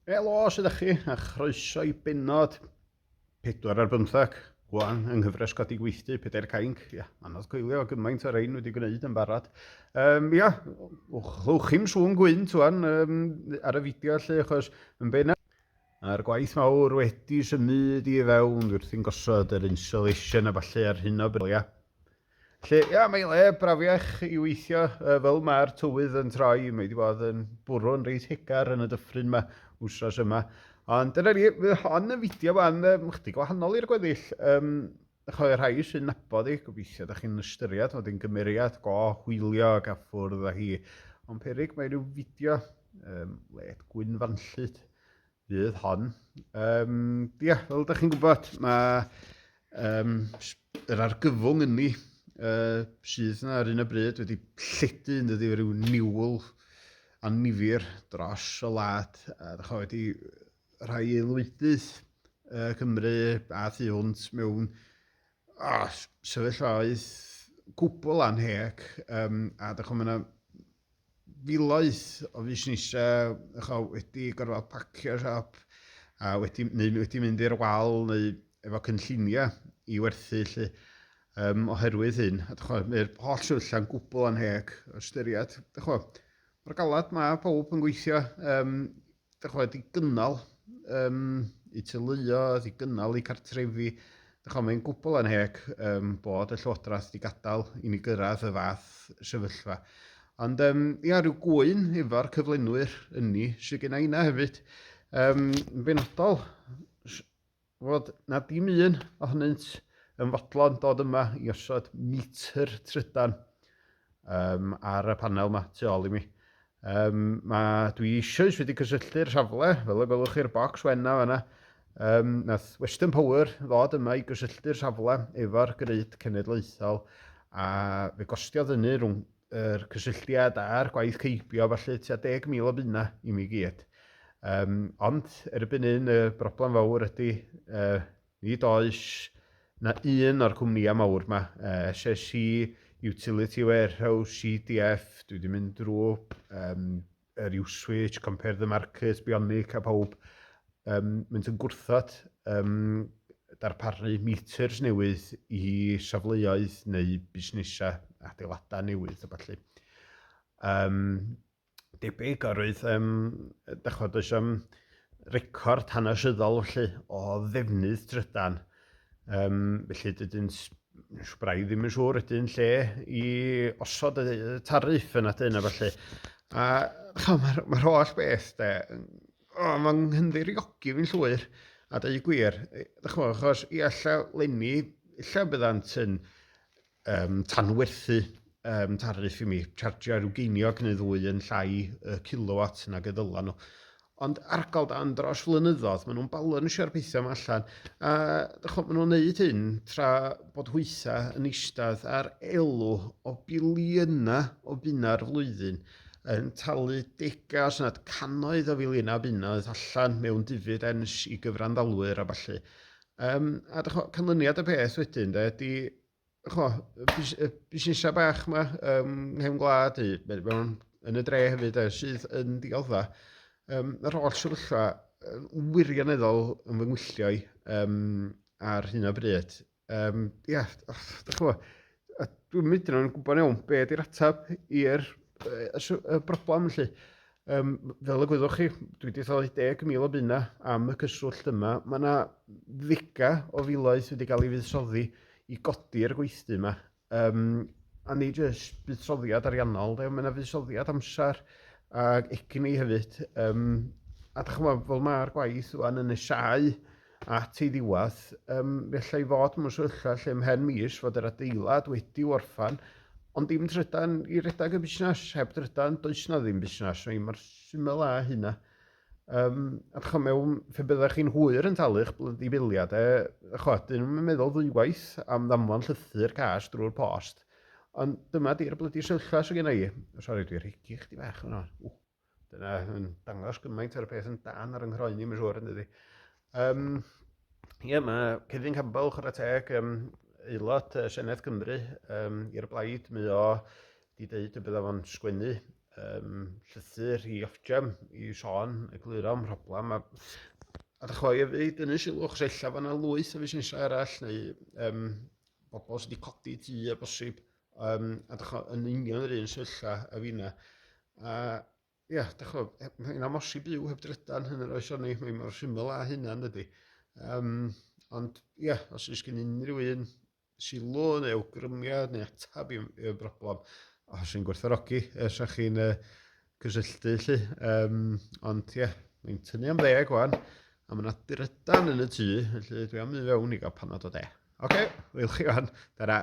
Helo, sydd â chi, a chroeso i benod 4 ar 15, gwan yng nghyfres codi gweithdy, pedair cainc, ia, anodd coelio gymaint o'r ein wedi gwneud yn barod. Um, ia, chwch chi'n sŵn gwynt wan um, ar y fideo lle, achos yn benna Mae'r gwaith mawr wedi symud i fewn, wrth i'n gosod yr insulation a falle ar hyn o bryd, ia. Felly, ia, mae le brafiach i weithio, yy, fel mae'r tywydd yn troi, mae 'di bod yn bwrw'n reit hegar yn y dyffryn 'ma wsnos yma. Ond dyna ni, fydd hon yn fideo fan um, chdi gwahanol i'r gweddill. Um, chwe rhai sy'n nabod i, gobeithio da chi'n ystyried fod yn gymeriad go hwylio ac a ffwrdd â hi. Ond perig mae rhyw fideo um, led gwyn fanllyd fydd hon. Um, yeah, fel ydych chi'n gwybod, mae um, yr argyfwng yn ni uh, sydd yna ar un o bryd wedi lledu yn dydi rhyw niwl annifir dros y lad. A ddech chi wedi rhai aelwydydd uh, Cymru a thu hwnt mewn oh, sefyllfaoedd gwbl anheg um, a ddech chi'n filoedd o fusnesau chwa, wedi gorfod pacio siop a wedi, neu wedi mynd i'r wal neu efo cynlluniau i werthu lle um, oherwydd hyn. Mae'r holl sefyllfa'n gwbl anheg o ystyried. Mae'r galad mae pob yn gweithio um, Dach ch'mod, wedi gynnal um, i teuluo, wedi gynnal i cartrefi. Dach ch'mod, mae'n gwbl anheg um, bod y Llywodraeth wedi gadael i ni gyrraedd y fath sefyllfa. Ond um, ia, rhyw gwy'n efo'r cyflenwyr ynni sydd gen i yna hefyd. Um, yn benodol, fod na dim un ohonynt yn fodlon dod yma i osod metr trydan um, ar y panel yma tu ôl i mi. Um, ma, dwi eisoes wedi cysylltu'r safle, fel y gwelwch chi'r bocs wenna fanna. Um, nath Western Power ddod yma i gysylltu'r safle efo'r greid cenedlaethol a fe gostiodd hynny rhwng yr cysylltiad a'r gwaith ceibio, felly tua 10,000 o bunna i mi gyd. Um, ond erbyn un y broblem fawr ydy uh, nid oes na un o'r cwmnïau mawr yma, uh, SSC, Utility Warehouse, CDF, dwi wedi mynd drwy um, yr Uswitch, Compare the Market, Bionic a pawb, um, mynd yn gwrthod um, darparu meters newydd i safleoedd neu busnesau adeiladau newydd a falle. Um, debyg oedd, um, dachod, oes am record hanesyddol felly o ddefnydd trydan. Um, felly dydyn Sbrai ddim yn siŵr ydy yn lle i osod y tariff yna dyn a falle. A mae'r ma holl beth de, o, mae'n nghynddiriogi fi'n llwyr. A dweud gwir, chymod, achos i allaf lenni, lle byddant yn um, tanwerthu um, tarif i mi, chargio rhyw geiniog neu ddwy yn llai y kilowatt nag y ddylan nhw. Ond argal dan dros flynyddoedd, maen nhw'n balansio'r pethau yma allan. A chod, maen nhw'n neud hyn tra bod hwytha yn eistedd ar elw o biliynau o bunau'r flwyddyn yn talu degau os nad cannoedd o filiynau bunnoedd allan mewn dividends i gyfranddalwyr a falle. Um, a canlyniad y peth wedyn, de, di Cho, y busnesau bach yma um, nghefn gwlad, mewn yn y dre hefyd, sydd yn dioddfa. Um, yr holl sefyllfa wirioneddol yn fy ngwyllio i um, ar hyn o bryd. Um, ia, da chi'n gwybod, dwi'n mynd yn gwybod iawn beth ydy'r ateb i'r y broblem, felly. Yym, fel y gwyddoch chi, dwi wedi talu 10,000 o bunna am y cyswllt yma. Mae yna ddiga o filoedd wedi cael ei fuddsoddi i godi'r gweithdy yma. Um, a ni jyst buddsoddiad ariannol, de, mae yna fuddsoddiad amser ac egni hefyd. Um, a da chymod, fel mae'r gwaith yn nesau, at ei ddiwedd, um, felly i fod mewn sefyllfa lle ymhen mis fod yr adeilad wedi orffan, ond dim trydan i redag y busnes, heb drydan does na ddim busnes, mae mor syml â hynna. Um, a chwa mewn, fe byddech chi'n hwyr yn talu'ch blydi biliau, de, chwa, dyn nhw'n meddwl ddwywaith am ddamfon llythyr cas drwy'r post, ond dyma di'r blydi sefyllfa sy'n gen i. Sori, dwi'n rhegi chdi bach yno. Dyna yn dangos gymaint ar y peth yn dan ar yng nghroen i, mae'n siŵr, yn dydi. Um, Ie, yeah, mae Cefin Campbell, chwarae teg, um, aelod uh, Senedd Cymru um, i'r blaid, mae o di dweud y bydda fo'n sgwennu um, llythyr i Ofgem i sôn, egluro am problem, a, a ddechrau i fi dynnu sylw, chos ella fan yna lwyth o fusnesau arall, neu um, bobl sydd wedi codi tu a bosib, Um, a dych chi'n yn union yr un sefyllfa a fi na. A ia, dych chi'n e, mae'n amosib byw heb drydan hyn yr oes o'n ni, mae'n mor syml a hynna yn dydy. Um, ond ia, os ys gen unrhyw un sylw neu awgrymiad neu atab i'r i broblem, os yn gwerthorogi, os ych chi'n uh, cysylltu lle. Um, ond ia, mae'n tynnu am ddeg o'n, a mae'n adrydan yn y tŷ, felly dwi am i fewn i gael panad o de. Oce, okay, wyl chi o'n, dara.